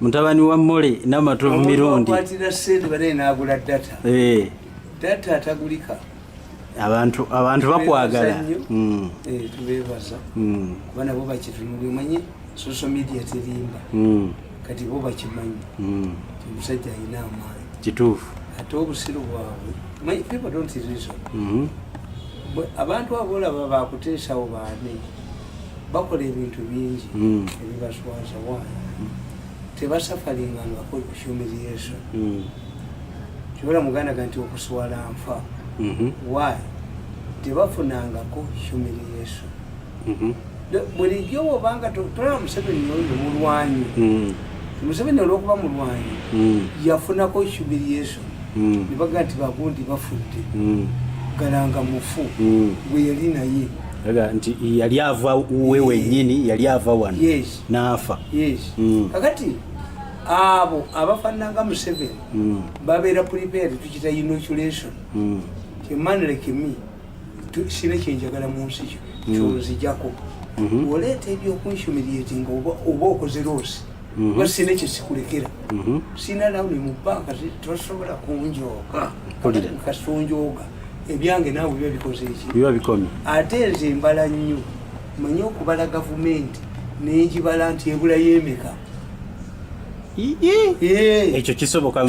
mutabani wa mole namatovu mirundi eh. abantu abantu bakwagala hmm. eh, tubebaza hmm. kuba nabo bakitunuli omanyi social media terimba hmm. kati bo bakimanyi omusajja alina amaanyi kituufu ate obusiru bwabwe manyi people don't reason abantu abolaba bakuteesawo baane bakola ebintu bingi hmm. ebibaswaza waana hmm. tebasafalinga ngakoli ku humiliation hmm. kyobola muganda ga nti okuswala nfa mhm. wy tebafunangako humiliation mhm. bulijjo obanga tolaba museveni oyo mulwanyi museveni olwokuba mulwanyi yafunako humiliation nebaga nti bagundi bafudde galanga mufu gweyali naye aga nti yali ava uwe wenyini yali ava wano yes. naafa yes. mm. kakati abo abafananga museveni mm. babeera prepared tukita inoculation mm. emanlekimi sina kyenjagala mu nsi kyo mm. kyonzijako mm -hmm. oleeta ebyokunhumiliatinga oba okoze loosi mm -hmm. sina ekyo sikulekera mm -hmm. sina lawuni mu banka tosobola kunjooga kasonjooga ebyange naawe biba bikoze eki biba bikomye ate nze mbala nnyo manye okubala gavumenti nengibala nti ebula yemeka ekyo kisoboka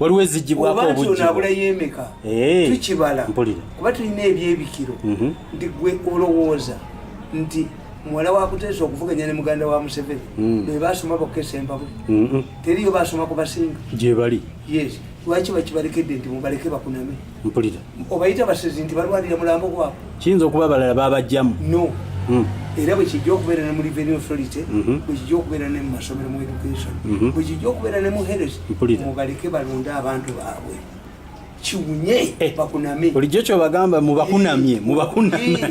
waliwo ezigibwako obujjibwabula yemeka tukibala kuba tulina ebyebikiro mhm. nti gwe olowooza nti muwala wakuteesa okuvuganya ne muganda wa museveni mm. bebasoma bokesa empabuli mm-hmm. teriyo basoma kubasinga gyebali yes lwaki bakibalekedde nti mubaleke bakuname mpulira obayita basezi nti balwanira mulambo gwabwe kiyinza okuba abalala babajjamu no hmm. era bwekijja okubeera ne mu revenue authority mhm. bwekijja okubeera ne mu masomero mu education mhm. bwekijja okubeera ne mu heres mubaleke balonde abantu baabwe kiwunye eh, bakunamye bulijjo kyobagamba mubakunamye mubakunamye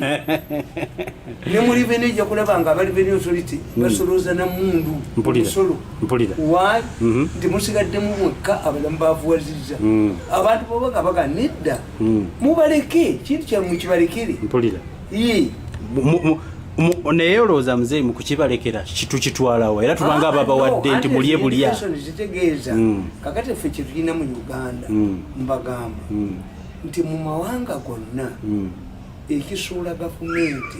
ne mu revenue ejja kulaba nga aba revenue authority hmm. basolooza na mundu musolo mpulira why mhm. nti musigaddemu mwekka abalamu bavuwazizza mm. abantu baba nga baga nedda mm. mubaleke kintu kyamwe kibalekere mpulira naye olowooza muzeeyi mu kukibalekera tukitwalawo era tubanga ah, ababawadde nti mulye bulya zitegeeza mm. kakati ffe kyetulina mu uganda mbagamba nti mu mawanga gonna ekisuula gavumenti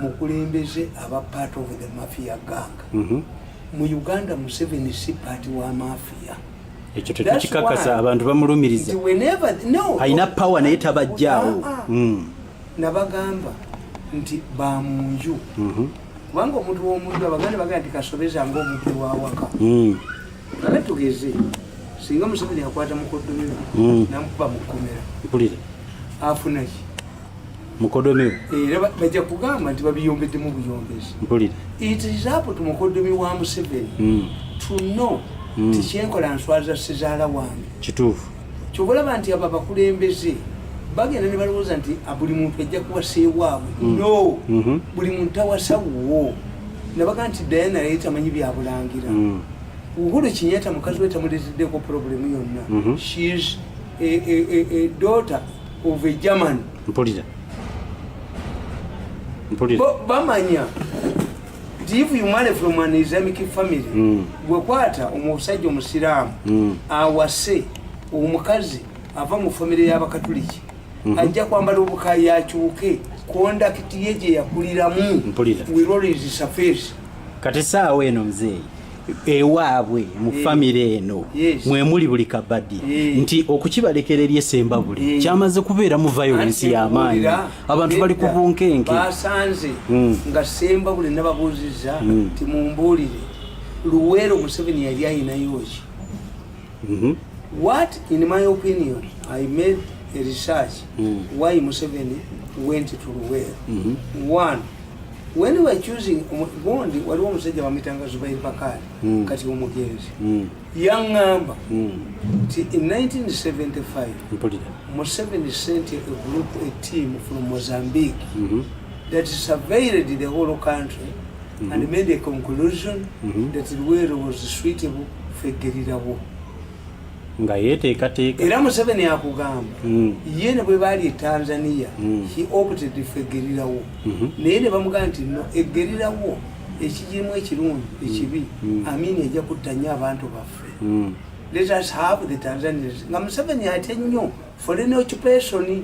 mukulembeze aba part of the mafia gang Mhm. mu uganda museveni si paati wa mafiya ekyo tekikikakasa abantu bamulumiriza alina pawa naye tabajjaawo ah, ah. mm. nabagamba nti bamunju mhm. kubanga omuntu womunju abaganda bagala nti kasobeza nga omuntu wawaka mm. ale tugeze singa museveni akwata mukoddomiro mm. namukuba mukomera afunaki mukodomi era bajja kugamba nti babiyombeddemu buyombezi mpulira it is up to mukodomi wa museveni hmm. to know hmm. tikyenkola nswaza sizaala wange kituufu kyobalaba nti abo abakulembeze bagenda ne balowooza nti ah, buli muntu ajja kuwaseewaabwe hmm. no mhm. buli muntu tawasawuwo nabaga nti dayana yali tamanyi byabulangira uhuru kinyata mukazi we tamuleteddeko problemu yonna mhm. shes a daughter of a german mpulira mpulira bamanya nti if you marry from an islamic family hmm. gwekwata omusajja omusiraamu hmm. awase omukazi ava mu famire y'abakatuliki hmm. ajja kwambala obukayi akyuke kondakiti ye gye yakuliramu wirolizisaface kati saawa eno mzeeyi ewaabwe mu eh. famire eno mwe muli buli kabadi eh. nti okukibalekera eri esembabule eh. kyamaze kubeeramu violence y'amaanyi abantu bali ku bunkenke basanze hmm. nga sembabule nababuuzizza hmm. ti mumbuulire luweero museveni yali ayinayoki mhm. what in my opinion i made a research hmm. why museveni went to luweero mhm. one when we were choosing gundi waliwo omusajja bamitanga zubair bakali mm. kati omugenzi mm. yaŋŋamba mm. nti in 1975 museveni sent a group a team from mozambique mm -hmm. that surveilled the whole country mm -hmm. and made a conclusion mm -hmm. that luwero was suitable for gerira war nga yeteekateeka era museveni akugamba mm. ye ne bwe baali e tanzania mm. he opted fe egerirawo mm -hmm. naye ne bamugamba nti no egerirawo ekijirimu ekirungi mm. ekibi mm. mm. amini ejja kutta nnyo abantu baffe mm. let us have the tanzanians nga museveni atya nnyo foreign occupation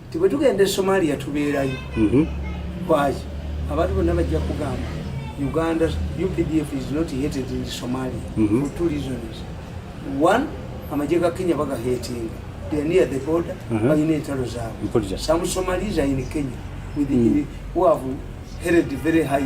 nti bwe tugenda e somalia tubeerayo mhm. lwaki abantu bonna bajja kugamba uganda updf is not hated in somalia mhm. for two reasons one amagye ga kenya bagahetinga they're near the border mhm. balina entalo zaabwe some somalis are in kenya with mm. who have held very high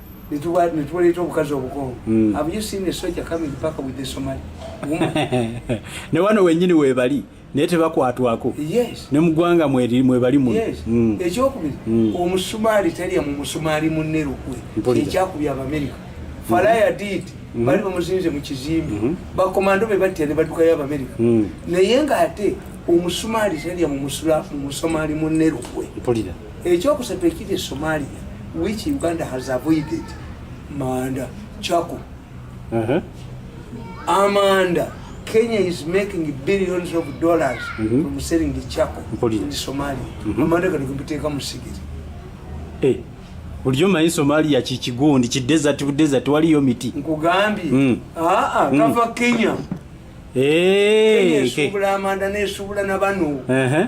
netuwaleeta obukazi obukongo hmm. have you seen a soldier coming back with the somali ne wano wenyini webali naye tebakwatwako ne mugwanga mwebali muno hmm. ekyokubiri hmm. omusumaali talya mu musumaali munne lukwe ekyakubya abamerika falaya did bali bamuzinze mu kizimbe mm-hmm. bakomando be batya ne badukayo abamerika naye nga ate omusumaali talya mu musumaali munne lukwe Ekyokusatu ekiri e Somalia which Uganda has avoided manda chako uh -huh. amanda Kenya is making billions of dollars mm -hmm. from selling the charcoal Mpoli. in Somalia. Mm -hmm. Amanda kali kumpiteka musigiri. Eh. Uliyo mayi Somalia chichigundi chi desert u desert wali yo miti. Nkugambi. Mm. Ah ah mm. kava Kenya. Eh. Kenya subula okay. Amanda ne subula na banu. Eh. Uh -huh.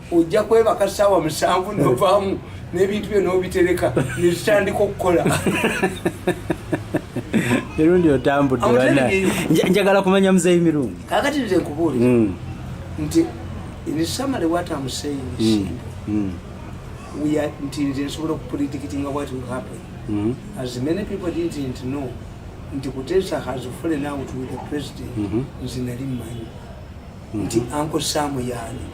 ojja kwebaka saawa musanvu novaamu n'ebintu byo n'obitereka nezitandika okukola mirundi otambudde bana njagala kumanya muzeeyi mirundi kakati nze nkubuulira hmm. nti nisamale wata museeyi hmm. hmm. nti nze nsobola okupredikitinga what will happen as many people didn't know nti kutesa has fallen out with the president nze nali mmanyi nti anko saamu yaani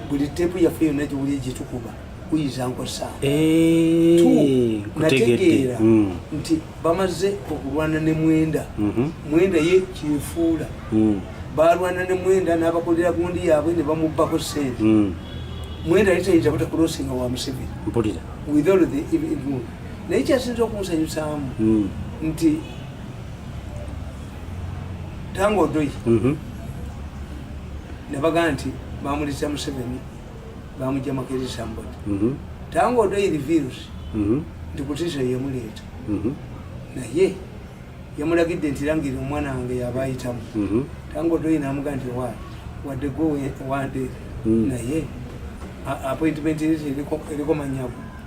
buli teepu yaffe yonna gyewuli gyetukuba kuyinza nkosa eh, nategeera hmm. nti bamaze okulwana ne mwenda mhm. mwenda ye kyefuula hmm. balwana ne mwenda n'abakolera gundi yaabwe ne bamubbako sente hmm. mwenda yali tayinza butakulosinga wa museveni naye kyasinza okunsanyusaamu nti tango odoi mhm. nebaga nti bamulisa museveni bamuja makerisa mbodi mhm. tango odoi reveals mhm. nti kutisa yemuleeta naye yamulagidde nti langire omwana wange yaba ayitamu tango odoi namuga nti wa wadde gwe wande naye appointment eriko manyago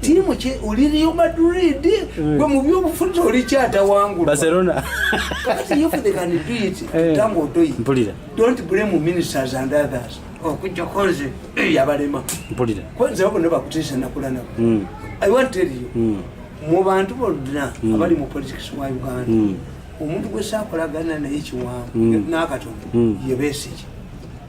tiimu ki oli Real Madrid hmm. gwe mu byobufuzi oli kyatawangula Barcelona kati if they can do it eh. tango otoyi mpulira don't blame ministers and others okujja konze eh, yabalema mpulira konze abo ne bakutisa nakula nabo hmm. i want to tell you hmm. mu bantu bonna abali mu politics wa Uganda omuntu gwe sakolagana naye kiwango n'akatongo yebesigye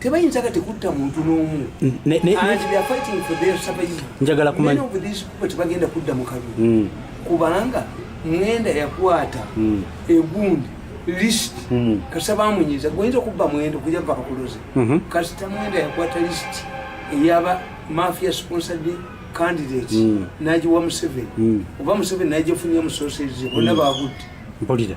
tebayinzaga tekutta muntu n'omu njagala kumanyaebagenda kudda mu kalulu hmm. kubanga mwenda yakwata hmm. egundi list hmm. kasita bamunyiza goyinza okubba mwenda okuja va kakuloze mhm. kasita mwenda yakwata list eyaba mafia sponsored candidate nagiwa museveni oba museveni nagifunia musosezize bona bagudde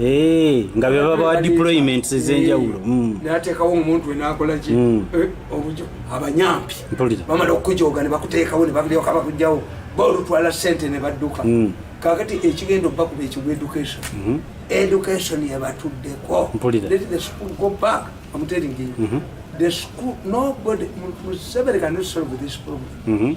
Eh, nga bebabawa deployments ezenjawulo eh, mm. natekawo omuntu wenakolaki mm. eh, obujo abanyampi bamala okukujoga nebakuteekawo nebakujoka bakujawo bolutwala sente nebadduka mm. kakati ekigenda okubakuba ekigwa education mm-hmm. education yebatuddeko let the school go back i'm telling you mm-hmm. the school nobody museveni cannot solve this problem mm-hmm.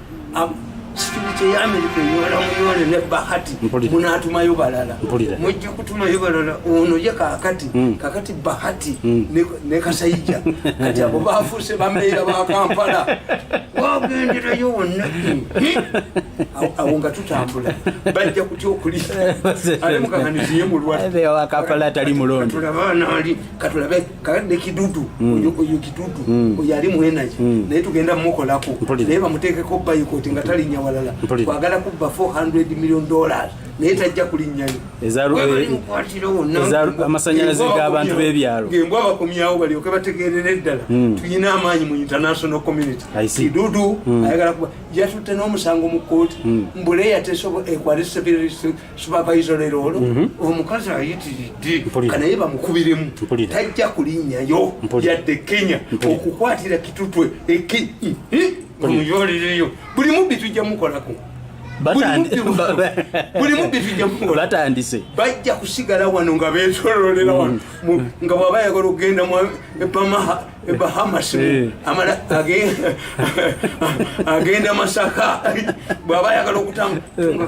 sikibikye ya amerika eyola muyole ne bahati munatumayo balala mujja kutumayo balala ono ye kakati hmm. kakati bahati hmm. ne kasayija kati abo bafuuse bameera ba kampala wagenderayo wonna awo nga tutambula bajja kutya okuli ale mukaganiziye mulwadde katulabe kakadde kidudu hmm. oyo kidudu hmm. oyo ali mu energy hmm. naye tugenda mukolako naye bamuteekeko bayikoti nga talinya walala kwagala kubba 400 million dollars naye tajja kulinnyayo amasanyalaze g'abantu b'ebyalo ngembwa bakomyawo balyoke bategeerera eddala hmm. tulina amaanyi mu international community kidudu hmm. ayagala kuba yatutte n'omusango mu kooti hmm. mbuleya tesobo ekwali eh, supervisor lero olwo mhm. omukazi ayitiridde kanaye bamukubiremu tajja kulinyayo yadde kenya okukwatira kitutwe eki muyolireyo buli mubbi tujja mukolako buli mubbi tujja mukolatandise bajja kusigala wano nga betololera wano mhm. nga bwaba yagala okugenda epamaha bahamas eh. agenda masaka bwaba yagala okutanga eh.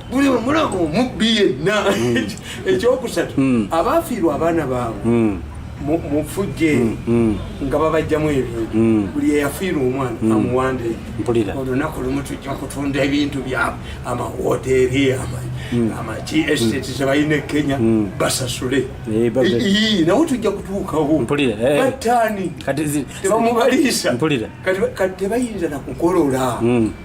buli omulamu omubbi yenna hmm. ekyokusatu hmm. abaafiirwa abaana baabwe hmm. mufujje nga babajjamu ebintu buli eyafiira omwana amuwande olunaku lumu tujja kutunda ebintu byabwe amawoteeri amaki esiteti zebalina ekenya basasule eh, nawe tujja kutuukawo batani eh. tebamubaliisa kati tebayinza nakukolola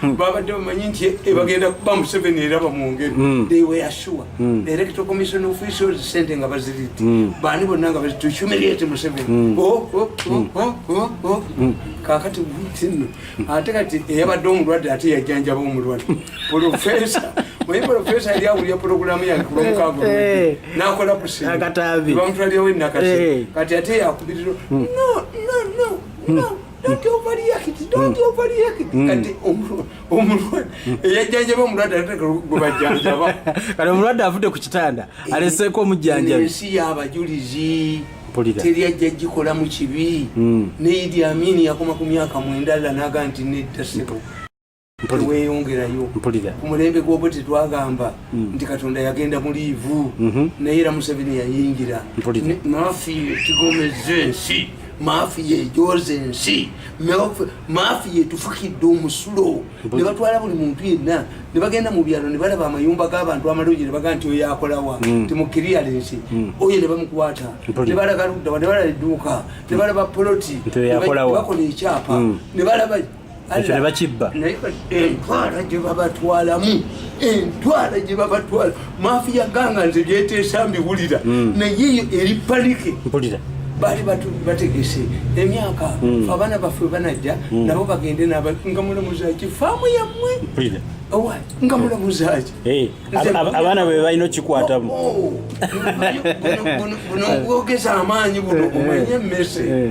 Hmm. babadde bamanyi nti ebagenda eh, kuba museveni era bamwongere hmm. they were sure hmm. director commission officials sente nga baziritti baani bonna nga to humiliate museveni oh, oh, oh, kakati tino ate kati eyabadde omulwadde ate yajanjaba omulwadde profesa oye profesa yali awulira pulogulamu yange ku lwomukaago eh, eh. nakola kusinbamutwalirawo enakasi eh. kati ate yakubiriro no no no no don't overreact don't hmm. overreact hmm. kati omulwadde hmm. eyajjanjaba omulwadde atateka gwebajjanjaba kati omulwadde avudde ku kitanda eh, aleseeko omujjanjabi ensi y'abajulizi teri ajja gikola mu kibi ne idi amini yakoma ku myaka mwendalla naga nti nedda sebo teweyongerayo ku mulembe gwobo tetwagamba mm. nti katonda yagenda mu liivu mm-hmm. naye era museveni yayingira maafi yekigomeza ensi maafi yejoza ensi maafi yetufukidde omusulo ne batwala buli muntu yenna ne bagenda mu byalo ne balaba amayumba g'abantu amalungi ne baga nti oyo akolawa mm. timukiriala ensi mm. oyo ne bamukwata ne balaga luddawa ne balaba edduuka ne balaba poloti ne bakola ekyapa ne balaba ekyo nebakibba entwala gyebabatwalamu entwala gyebabatwala mafiya ganga nze byeteesa mbiwulira hmm. naye eyo eri panike mpulira baali bategese emyaka hmm. abaana baffe banajja hmm. nabo bagende nga mulamuzaki faamu yammwe nga mulamuzaki eh, abaana be balina okikwatamu oh, buno bwogeza amaanyi buno omanye emmese eh.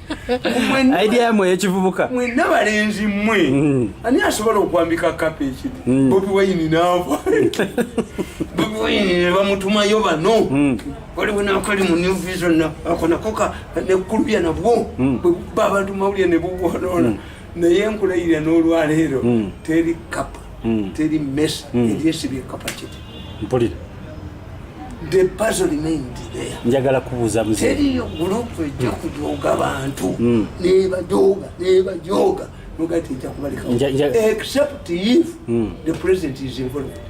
idea yamwe eyekivubuka mwena balenzi mwe mm. ani asobola okwambika kapa ekidi mm. bobi wayini naava bobi wayini nebamutumayo bano mm. waliwo nakali mu new vision akonakoka nekulubya nabwo bwebuba abantu mawulya nebuwonoona naye nkulayirira n'olwaleero hmm. teri kapa hmm. teri mesa hmm. eryesibye kapacity mpulira the puzzle remained there njagala kubuuza mzee teriyo group ejja kujooga bantu nebajooga nebajooga nogati ejja kubaleka except if the president is involved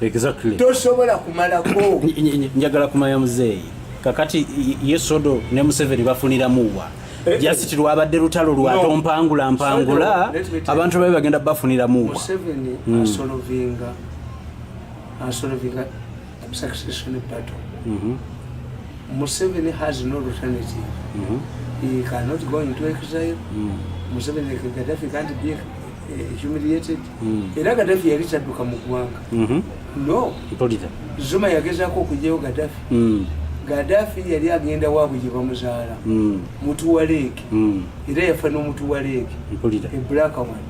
exactly tosobola kumalako njagala kumanya muzeeyi kakati yesodo ne museveni bafuniramuwa eh, eh. jasiti lwabadde lutalo lwato mpangula mpangula abantu babe bagenda bafuniramuwa hmm. mhm. museveni has no alternative mm -hmm. he cannot go into exile mm -hmm. museveni gaddafi can't be humiliated hmm. era gadafi yali tadduka mu ggwanga mhm. no zuma yagezako okugyayo gadafi hmm. gadafi yali agenda waabwe gye bamuzaala hmm. mutu wa leeke era yafa n'omutu wa leeke ebulaka wan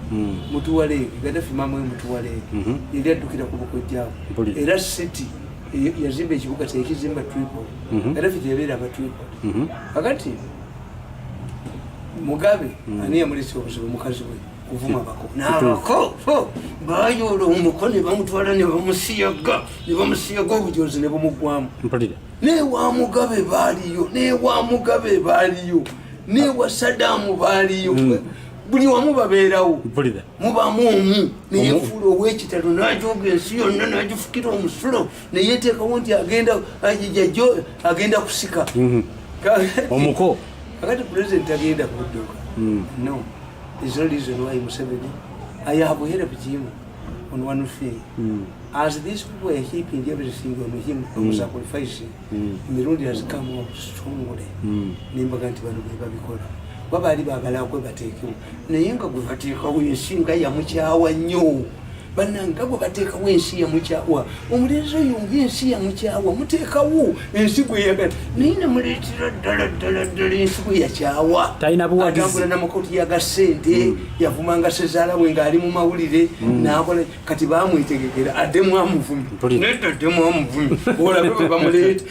mutu wa leeke gadafi maama we mutu wa leeke mhm. yali addukira ku bukojjaabo era city e, yazimba ekibuga kyekizimba tripol mhm. gadafi gyebeera aba tripol akati mugabe hmm. ani yamulesa obuzibu mukazi we kuvuma hmm. bako nabako bayoola omuko nebamutwala nebamusiyaga nebamusiyaga obujozi nebumugwamu newa mugabe baliyo newa mugabe baliyo newa sadamu baliyo hmm. buli wamu babeerawo mubamu omu neyefuula owekitalo najoga ensi yonna najifukira omusulo neyeteekawo nti agenda jajo agenda kusika mhm. omuko kakati president agenda kudduka mm. no is no reason why museveni ayahabuhere ku kimu on one thing mm. as these people are heaping everything on him mm. from sacrificing mm. mirundi has come up strongly mm. nembaga nti bano bebabikola baba ali bagala kwebateekewo naye nga gwe bateekawo ensi nga yamukyawa nnyo bananga gwe bateekawo ensi yamukyawa omulenzi oyo nga ensi yamukyawa muteekawo ensi gwe yagala naye nemuleetera ddala ddala ddala ensi gwe yakyawa atambula namakoti yaga sente hmm. yavumanga sezaala we ngaali mu mawulire hmm. nakola kati bamwetegekera addemu amuvumi nedda addemu amuvumi olabe bwe bamuleeta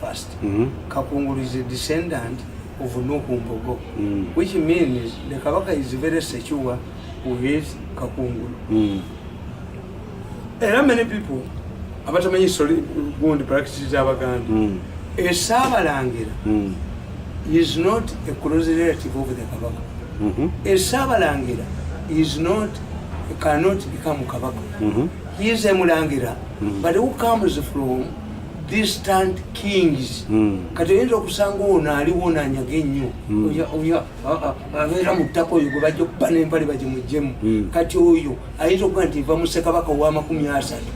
first mm -hmm. kakungulu is a descendant of nuhu mbogo mm. which means the kabaka is very secure with kakungulu mm. era many people abatamanyi soli gundi practice zabaganda mm. esabalangira mm. is not a close relative of the kabaka mm -hmm. esabalangira is not cannot become kabaka mm -hmm. he is a mulangira mm -hmm. but who comes from distant kings hmm. kati oyinza okusanga ono aliwo nanyaga ennyo hmm. abeera mu ttaka oyo gwebajja okuba nempale bagimujjemu hmm. kati oyo ayinza okuba nti va musekabaka owamakumi asatu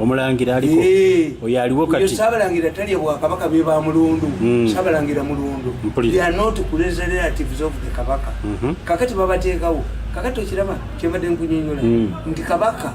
omulangira aliko eh. oyo aliwo kati sabalangira talya bwakabaka be ba mulundu sabalangira mulundu they are not kuleza relatives of the kabaka mhm. kakati babateekawo kakati okiraba kyembadde nkunyonyola nti kabaka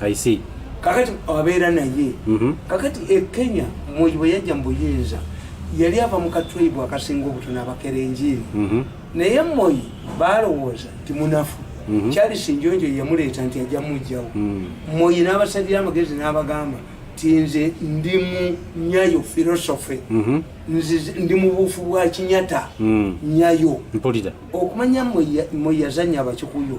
I see. Kakati abeera naye. Mm -hmm. Kakati e Kenya mwoyo bwe yajja mu buyinza yali ava mu katribu akasinga obutono abakera enjiri. Mm -hmm. Naye mwoyo baalowooza nti munafu. Mm -hmm. Charles Njonjo yamuleeta nti ajja mujjawo. Mm -hmm. Mwoyo n'abasalira amagezi n'abagamba nti nze ndi mu nyayo philosophy. Mm -hmm. Nzize ndi mu bufu bwa kinyata. Mm -hmm. Nyayo. Mpolita. Okumanya mwoyo yazanya abakikuyu.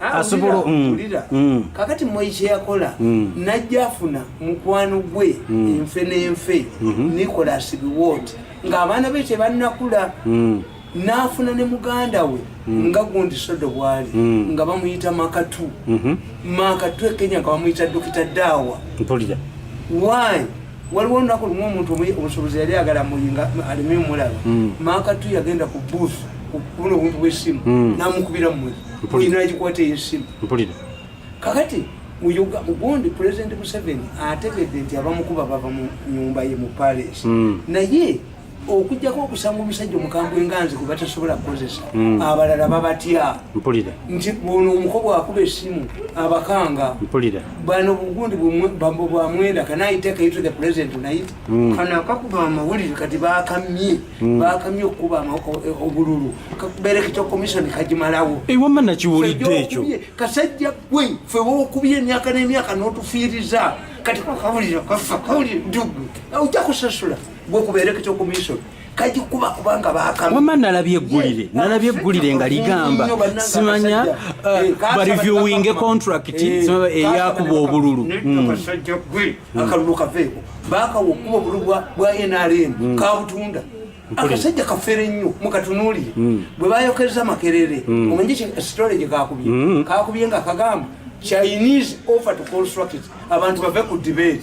Ah, asobola mm. mm. kakati moyi kyeyakola mm. najja afuna mukwano gwe enfe nenfe mm-hmm. nicolas biwot ngaabaana be tebannakula n'afuna ne muganda we hmm. nga gundi sodo bwali hmm. nga bamuyita makatu hmm. makatu ekenya nga bamuyita dokita daawa mpulira why waliwo olunaku lumu omuntu omusubuzi yali agala muyinga aleme omulaba hmm. makatu yagenda ku booth kubona obuntu bwesimu hmm. namukubira mumwe oyina agikwata eyesimu kakati mugundi president museveni ategedde nti abamukuba bava mu nyumba ye mu palace hmm. naye okujjako okusanga omusajja omukambwe nga nze gwebatasobola kukozesa hmm. abalala babatya mpulira nti ono omuko bwakuba esimu abakanga mpulira bano bugundi bwamwenda kanayitekaito the president nayit hmm. kano akakuba amawulire kati bakamye hmm. bakamye okukuba e, obululu kakuberekita komisoni kagimalawo ewama nakiwulidde ekyo kasajja gwe fe wokubye emyaka n'emyaka notufiiriza kati kakawulire kafa kawulire dugu ojja kusasula gwe kubeera ekyo komisoni kagikuba kubanga bakamwama nalabye eggulire nalabye eggulire nga ligamba simanya uh, eh, bareviewinge contract eh, eyakuba obululu hmm. akalulu kaveeko bakawa okuba obululu bwa nrm hmm. kabutunda akasajja kafere nnyo mukatunulire hmm. bwe bayokereza makerere omanyi storage kakubye kakubye nga kagamba chinese offer to construct abantu bave ku debate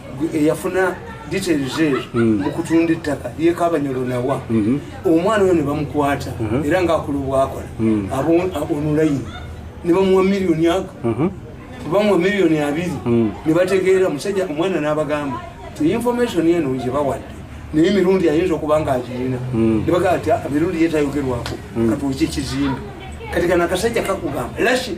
eyafuna details ezo hmm. mu kutunda ettaka yekabanyolo nawa hmm. omwana oyo ne bamukwata hmm. era ng'akola obwakola onulayini ne bamuwa miliyoni ago bamuwa miliyoni abiri ne bategeera musajja omwana n'abagamba ti information eno nje bawadde naye emirundi ayinza okuba nga agirina ne bagamba ti ah, emirundi yetayogerwako katuuki ekizimbe kati kana akasajja kakugamba lashi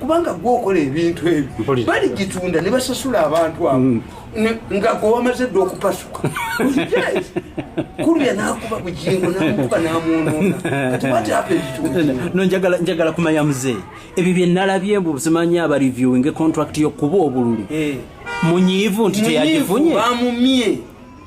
kubanga gwe okola ebintu ebyo baligitunda ne basasula abantu abo mm. nga gwe wamaze dda okupasuka kulya nakuba bujingo namukuba namunoona kati wati apa ebituno njagala kumanya muzee ebyo byenalabye mbu zimanyi aba reviewing contract yokuba obululu eh. munyiivu nti teyagifunye bamumye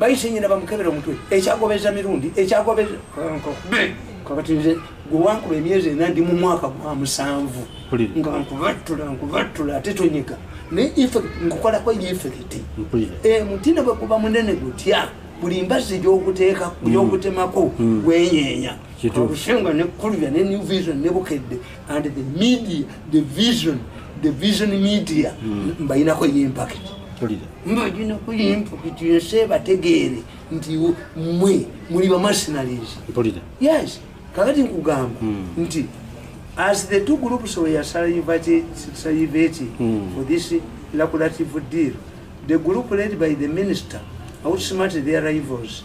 bayise nyina bamukebera omutwe ekyagobeza mirundi ekyagobeza kakati nze gwewankuba emyezi ena ndi mu mwaka gwa musanvu nga nkubattula nkubattula ate tonyiga naye nkukolako yefekiti eh, mutina bweguba munene gutya buli mbazi gyokuteeka gyokutemako hmm. gwenyenya Kituufu. ne Kulira ne New Vision ne Bukedde and the media the vision the vision media hmm. mbayinako ye impact. Kulira. Mbayinako ye impact yense bategeere nti mwe muli ba mercenaries. Kulira. Yes. Kakati nkugamba hmm. nti as the two groups were salivated salivated hmm. for this lucrative deal the group led by the minister outsmarted their rivals.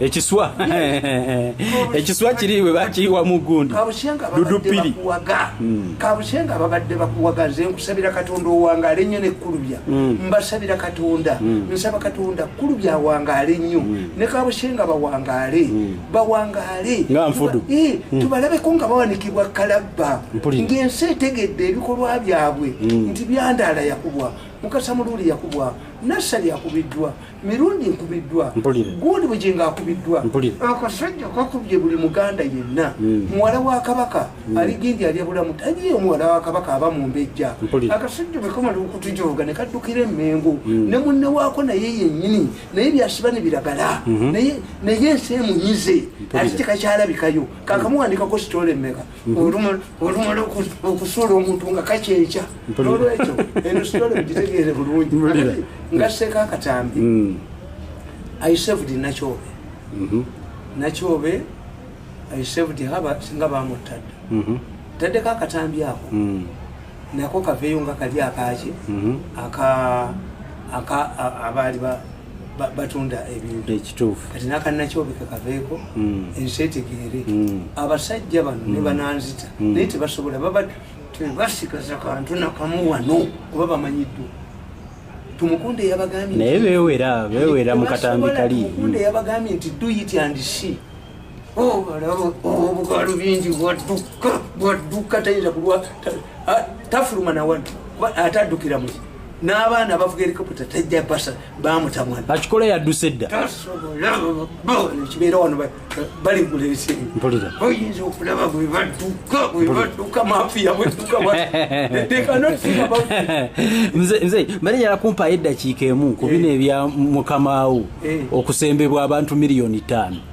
ekiswa ekiswa kiri we bakiyiwa mu gundi dudupiri hmm. kabushenga babadde bakuwaga nze nkusabira katonda owangaale nnyo nekkulubya hmm. mbasabira katonda hmm. nsaba katonda kulubya awangaale nnyo ne kabushenga bawangaale bawangaale nga nfudu eh, tubalabeko nga bawanikibwa kalabba ng'ensi etegedde ebikolwa byabwe nti byandaala yakubwa mukasa muluuli yakubwa nassali yakubiddwa mirundi nkubiddwa gundi bugingo akubiddwa akasajja kakubye buli muganda yenna hmm. muwala wa kabaka hmm. aligindi alya bulamu taliyo muwala wa kabaka aba mumbejja akasajja bekamala okutujoga nekaddukira emengo hmm. ne munne waako naye yenyini naye byasiba ne biragala naye ensi emunyize ati tekakyalabikayo kakamuwandikako sitole meka olumala okusuula omuntu nga kakyenkya nolwekyo eno sitole mugitegeere bulungi nga seeka akatambi mm. isevd nakyobe mm-hmm. nakyobe isevd haba singa bamuttadda mm-hmm. taddeko akatambi ako mm. nako kaveeyo nga kali akaki mm-hmm. aka abaali batunda ebintu ekituufu kati nakanakyobika kaveeko hmm. ensi etegeere hmm. abasajja bano ne hmm. bananzita naye tebasobola baba tebasikaza kantu nakamu wano kuba bamanyiddwa tumukunde yabagambye naye bewera bewera mukatambi kali tumukunde yabagambye nti do it and see obukalu bingi bwadduka bwadduka tayinza kulwa tafuluma nawano kuba ate addukira muki n'abaana abavuga erikopita tajja basa bamutamwana akikola yadduse edda kibeera wano baligula ebisinga oyinza okulaba bwe badduka bwe badduka mafiya bwedduka nze mbale nyala kumpaayo eddakiika emu ku bino eh. ebya mukamawo eh. okusembebwa abantu miliyoni ttaano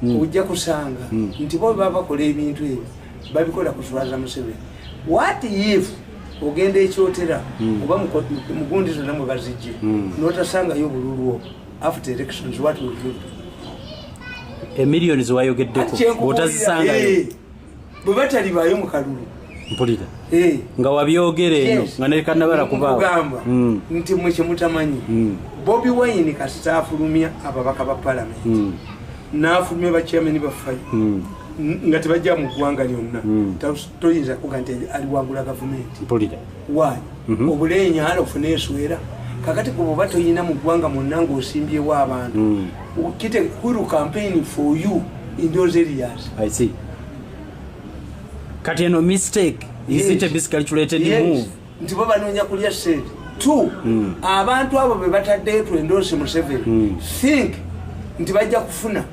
hmm. ojja kusanga hmm. nti bo baba bakola ebintu ebyo babikola kuswaza museveni wat if ogenda ekyotera hmm. oba mugundi zonna mwe bazijje notasangayo obululu obwo after elections wat emiliyoni zewayogeddeko otazisangayo eh, bwe batalibaayo mu kalulu mpulira eh. nga wabyogera eno nga nekanabala kubaagamba hmm. nti mwe kyemutamanyi hmm. bobi wayini kasita afulumya ababaka ba palamenti hmm. n'afulumya bakyameni bafayo nga tebajja mu ggwanga lyonna toyinza kuga nti aliwangula gavumenti wani mhm. obula enyala ofuna eswera kakati gwe bwoba toyina mu ggwanga mwonna ngaosimbyewo abantu mm. kite huru campaign for you in those areas i see kati eno mistake is it a basically curated move nti bo banoonya kulya sente two hmm. abantu abo be bataddeyo twendoosi museveni hmm. think nti bajja kufuna